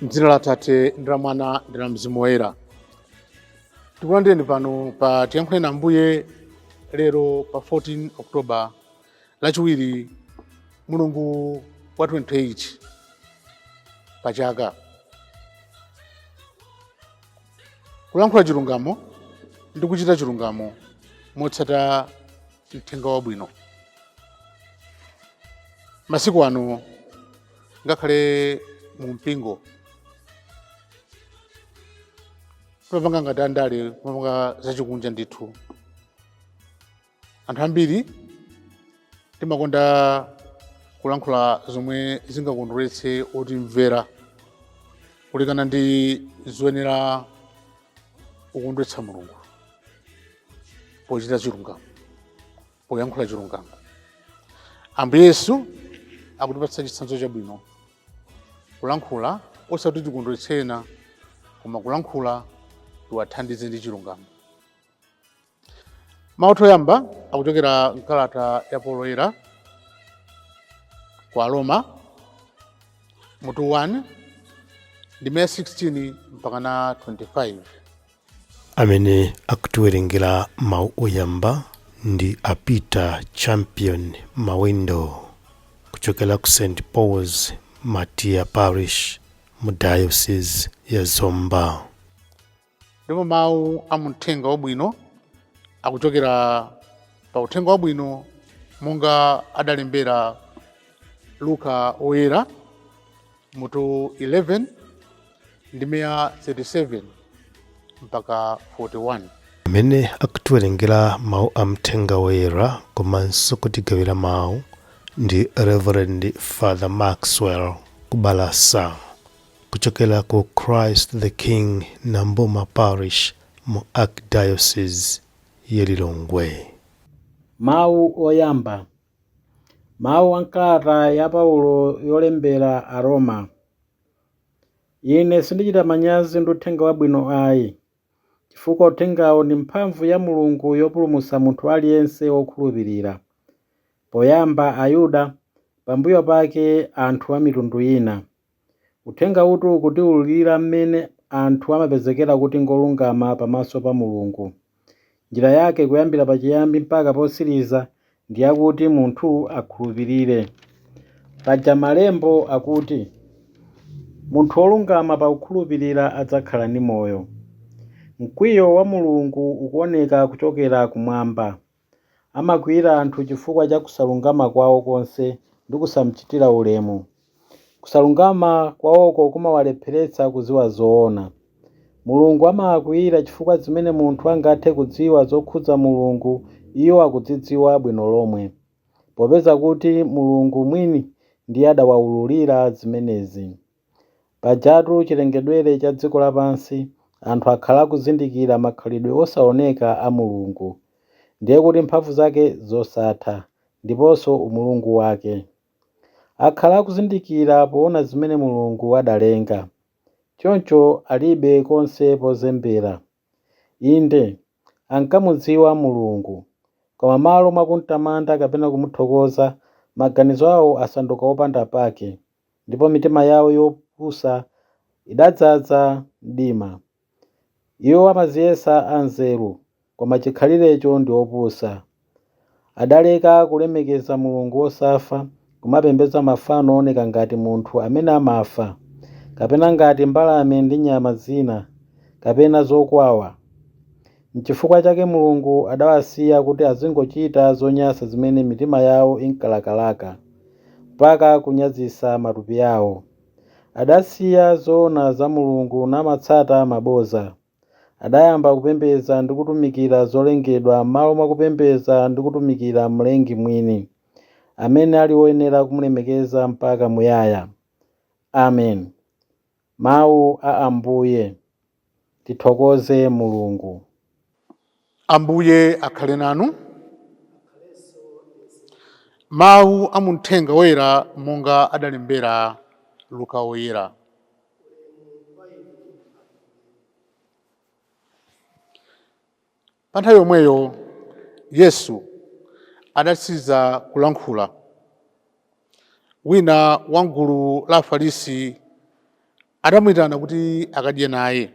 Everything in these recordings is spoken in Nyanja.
M'dzina la Atate ndi la Mwana ndi la Mzimu Woyera. Tikulandireni pano pa Tiyankhuleni Ambuye lero pa 14 October lachiwiri mulungu wa 28 pa chaka. Kulankhula chilungamo ndi kuchita chilungamo motsata mthenga wabwino. Masiku ano ngakhale mu mpingo timapanga ngati andale timapanga zachikunja ndithu anthu ambiri timakonda kulankhula zomwe zingakondweretse otimvera kulekana ndi zoyenera kukondweretsa mulungu pochita chilungamo poyankhula chilungamo ambuye yesu akutipatsa chitsanzo chabwino kulankhula osati tikondweretse ena koma kulankhula tiwathandize ndi chilungamo mawu oyamba akuchokera mkalata ya paulo woyera kwa aroma mutu 1 ndime 16 mpaka na 25 amene akutiwerengera mawu oyamba ndi a peter champion mawendo kuchokera ku st pauls matia parish mu diocese ya zomba ndipo mawu a mumthenga wabwino akuchokera pa uthenga wabwino monga adalembera luka woyera mutu 11 ndime ya 37 mpaka 41 amene akutiwerengera mawu a mthenga woyera komanso kutigawira mawu ndi reverend father maxwell kubalasa kuchokera ku christ the king namboma parish mu archdiocese ya lilongwe Mawu oyamba Mawu a m'kalata ya Paulo yolembera Aroma. Ine sindichita manyazi ndi uthenga wabwino ayi, chifukwa uthengawu ndi mphamvu ya Mulungu yopulumutsa munthu aliyense wokhulupirira, poyamba Ayuda, pambuyo pake anthu a mitundu ina. Uthengawutu ukutiwululira mmene anthu amapezekera kuti ngolungama pamaso pa Mulungu. Njira yake kuyambira pachiyambi mpaka potsiriza ndi yakuti munthu akhulupirire. Paja Malembo akuti, Munthu wolungama pakukhulupirira adzakhala ndi moyo. Mkwiyo wa Mulungu ukuoneka kuchokera kumwamba. Amakwiyira anthu chifukwa cha kusalungama kwawo konse ndi kusamchitira ulemu. Kusalungama kwawoko kumawalepheretsa kudziwa zoona. Mulungu amawakwiyira chifukwa zimene munthu angathe kudziwa zokhudza Mulungu iwo akuzidziwa bwino lomwe, popeza kuti Mulungu mwini ndiye adawaululira zimenezi. Pajatu chilengedwere cha dziko lapansi anthu akhala akuzindikira makhalidwe osaoneka a Mulungu, ndiye kuti mphamvu zake zosatha, ndiponso umulungu wake. Akhala akuzindikira poona zimene Mulungu adalenga, choncho alibe konse pozembera. Inde, ankamudziwa Mulungu. Koma m'malo mwa kum'tamanda kapena kumuthokoza, maganizo awo asanduka opanda pake, ndipo mitima yawo yopusa idadzaza mdima. Iwo amadziyesa anzeru, koma chikhalirecho ndi opusa. Adaleka kulemekeza Mulungu wosafa, kumapembedza mafano ooneka ngati munthu amene amafa, kapena ngati mbalame ndi nyama zina, kapena zokwawa. Nchifukwa chake Mulungu adawasiya kuti azingochita zonyansa zimene mitima yawo inkalakalaka, mpaka kunyazitsa matupi awo. Adasiya zoona za Mulungu namatsata mabodza. Adayamba kupembedza ndi kutumikira zolengedwa m'malo mwa kupembedza ndi kutumikira Mlengi mwini, amene ali woyenera kumulemekeza mpaka muyaya. Amen. Mawu a Ambuye. Tithokoze Mulungu. Ambuye akhale nanu. Mawu a mu Mthenga woyera monga adalembera Luka Woyera. Pa nthawi yomweyo Yesu adatsiza kulankhula. Wina wa m'gulu la Afarisi adamuyitana kuti akadye naye.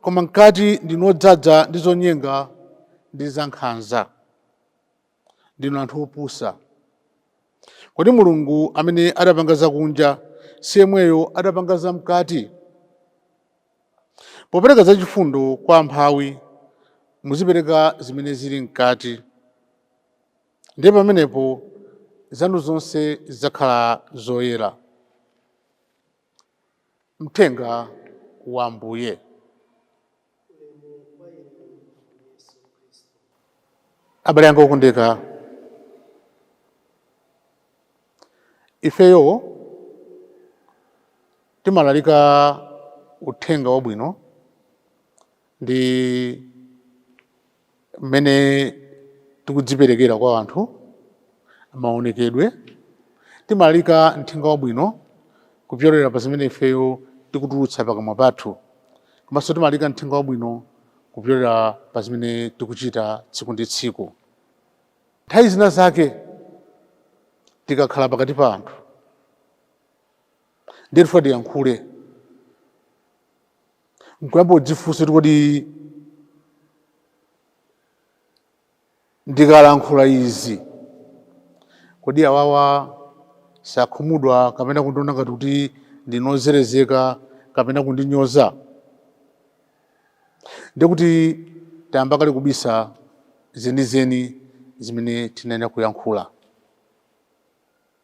Koma mkati ndinu odzaza ndi zonyenga ndi zankhanza. Ndinu anthu opusa. Kodi Mulungu amene adapanga zakunja si yemweyo adapanga zamkati? Popereka zachifundo kwa amphawi, muzipereka zimene zili mkati. Ndiye pamenepo zanu zonse zidzakhala zoyera. Mthenga wa Ambuye. Abale anga okondeka, ifeyo timalalika uthenga wabwino ndi mmene tikudziperekera kwa anthu, maonekedwe, timalalika uthenga wabwino kupyolera pa zimene ifeyo tikutulutsa pakamwa pathu, komanso timalalika uthenga wabwino kupyolera pa zimene tikuchita tsiku ndi tsiku. Nthawi zina zake tikakhala pakati pa anthu. ndiye tifuna tiyankhule nkuyamba kudzifunsa kuti kodi ndikalankhula izi kodi awawa sakhumudwa kapena kundiona ngati kuti ndinozerezeka kapena kundinyoza ndiye kuti tayamba kale kubisa zenizeni zimene tinayenera kuyankhula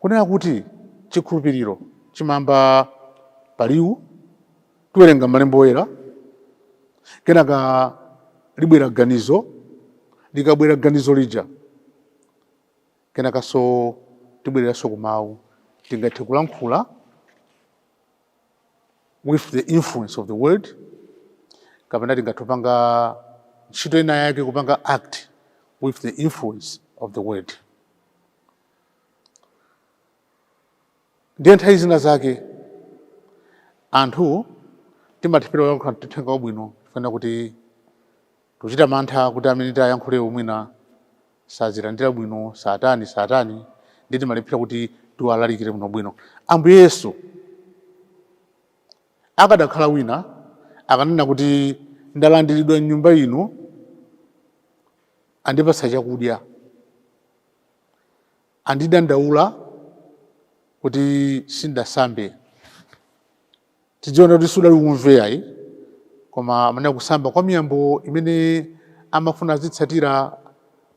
kunena kuti chikhulupiriro chimayamba pa liwu tiwerenga malemba oyera kenaka libwera ganizo likabwera ganizo lija kenakanso tibwereranso ku mawu tingathe kulankhula with the influence of the word kapena tingathe kupanga ntchito ina yake kupanga act with the influence of the word ndiye nthawi zina zake anthu timalephera kuyankhula uthenga wabwino chifukwa kuti tikuchita mantha kuti amene tiyankhulewo mwina sazilandira bwino sati nsati ndiye timalephera kuti tiwalalikire bwinobwino ambuye yesu akadakhala wina akanena kuti ndalandiridwa mnyumba ino andipatsa chakudya, andidandaula kuti sindasambe. Tidziona kuti sudali umve ayi, koma amanena kusamba kwa miyambo imene amafuna azitsatira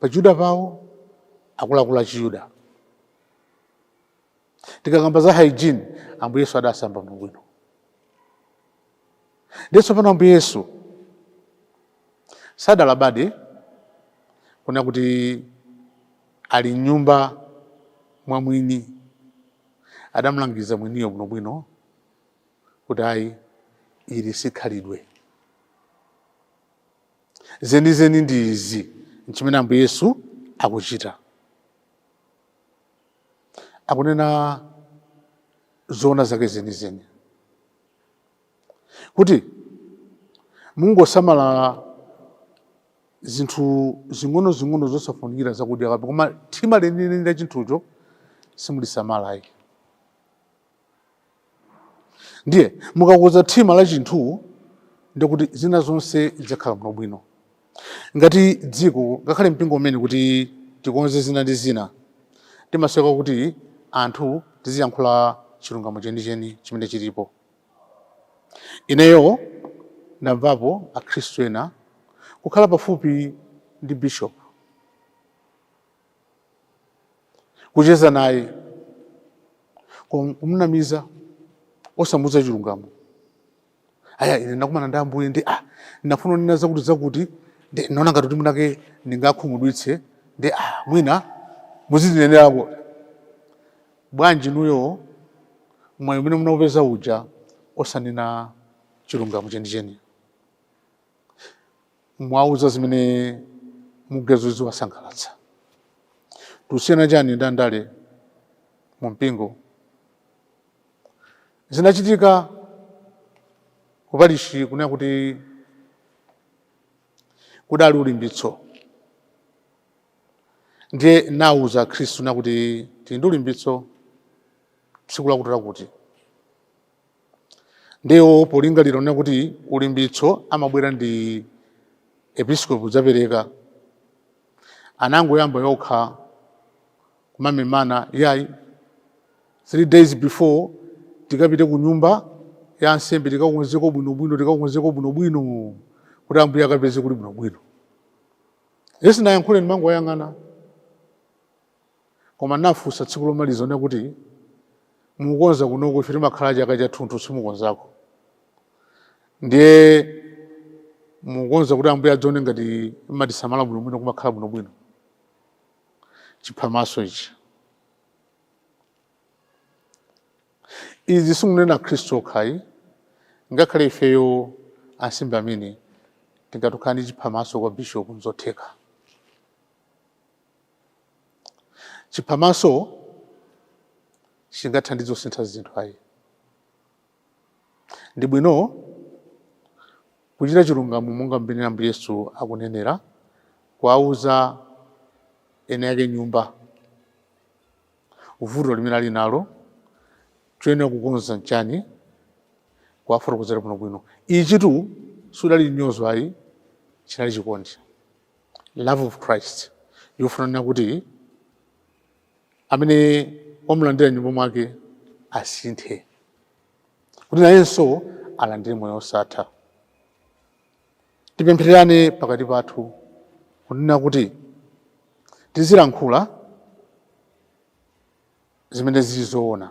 pa Chiyuda pawo akuluakulu a Chiyuda. tikakamba za hygiene ambuye yesu adasamba bwinobwino ndiye tsopano ambuye yesu sadalabade kunena kuti ali mnyumba mwa mwini adamulangiza mwiniyo bwinobwino kuti ayi ili sikhalidwe zenizeni ndi izi nchimene ambuye yesu akuchita akunena zoona zake zenizeni kuti mungosamala zinthu zing'onozing'ono zosafunikira za kunja kwa kapu koma thima lenileni la chinthucho simulisamalayi ndiye mukakhudza thima la chinthu ndikuti zina zonse zidzakhala bwino bwino ngati dziko ngakhale mpingo umene kuti tikonze zina ndi zina timasoweka kuti anthu tiziyankhula chilungamo chenicheni chimene chilipo ineyo ndamvapo akhristu ena kukhala pafupi ndi bishop kucheza naye kum- kumnamiza osamuuza chilungamo aya ine ndakumana ndi ambuye ndi a ndinafuna kunena zakuti zakuti ndi naona ngati kuti mwinake ndingawakhumudwitse ndi a mwina muzitinenerapo bwanji inuyo mwayi umene munaupeza uja osanena chilungamo chenicheni mwawauza zimene mukuganiza ziwasangalatsa tikusiyana chani ndi andale mu mpingo zinachitika kupalishi kunena kuti kudali ulimbitso ndiye ndinauza akhristu kunena kuti tili ndi ulimbitso tsiku lakuti lakuti ndiye iwo polingalira kunena kuti ulimbitso amabwera ndi episkopi kudzapereka anangoyamba okha kumamemana yayi three days before tikapite ku nyumba ya ansembe tikakonzeko bwinobwino tikakonzeko bwinobwino kuti ambuye akapeze kuli bwinobwino ine sindinayankhule ndimangowayang'ana Koma ndinafunsa tsiku lomaliza kunena kuti mukukonza kunoko ife timakhala chaka chathunthu simukonzako. Ndiye mukukonza kuti ambuye adzione ngati mmatisamala bwinobwino kumakhala bwinobwino. Chiphamaso ichi. Izi sindikunena akhristu okha ayi ngakhale ifeyo ansembe amene tingathe kukhala ndi chiphamaso kwa bishopu nzotheka. Chiphamaso sichingathandize kusintha zinthu ayi. Ndi bwino kuchita chilungamo monga mmene Ambuye Yesu akunenera, kuwauza eni ake nyumba vuto limene ali nalo, choyenera kukonza nchani, kuwafotokozera bwinobwino. Ichitu siudali mnyozo ayi, chinali chikondi. love of Christ yofuna kuti amene wamulandira m'nyumba mwake asinthe kuti nayenso alandire moyo osatha tipemphererane pakati pathu kunena kuti tizilankhula zimene zili zoona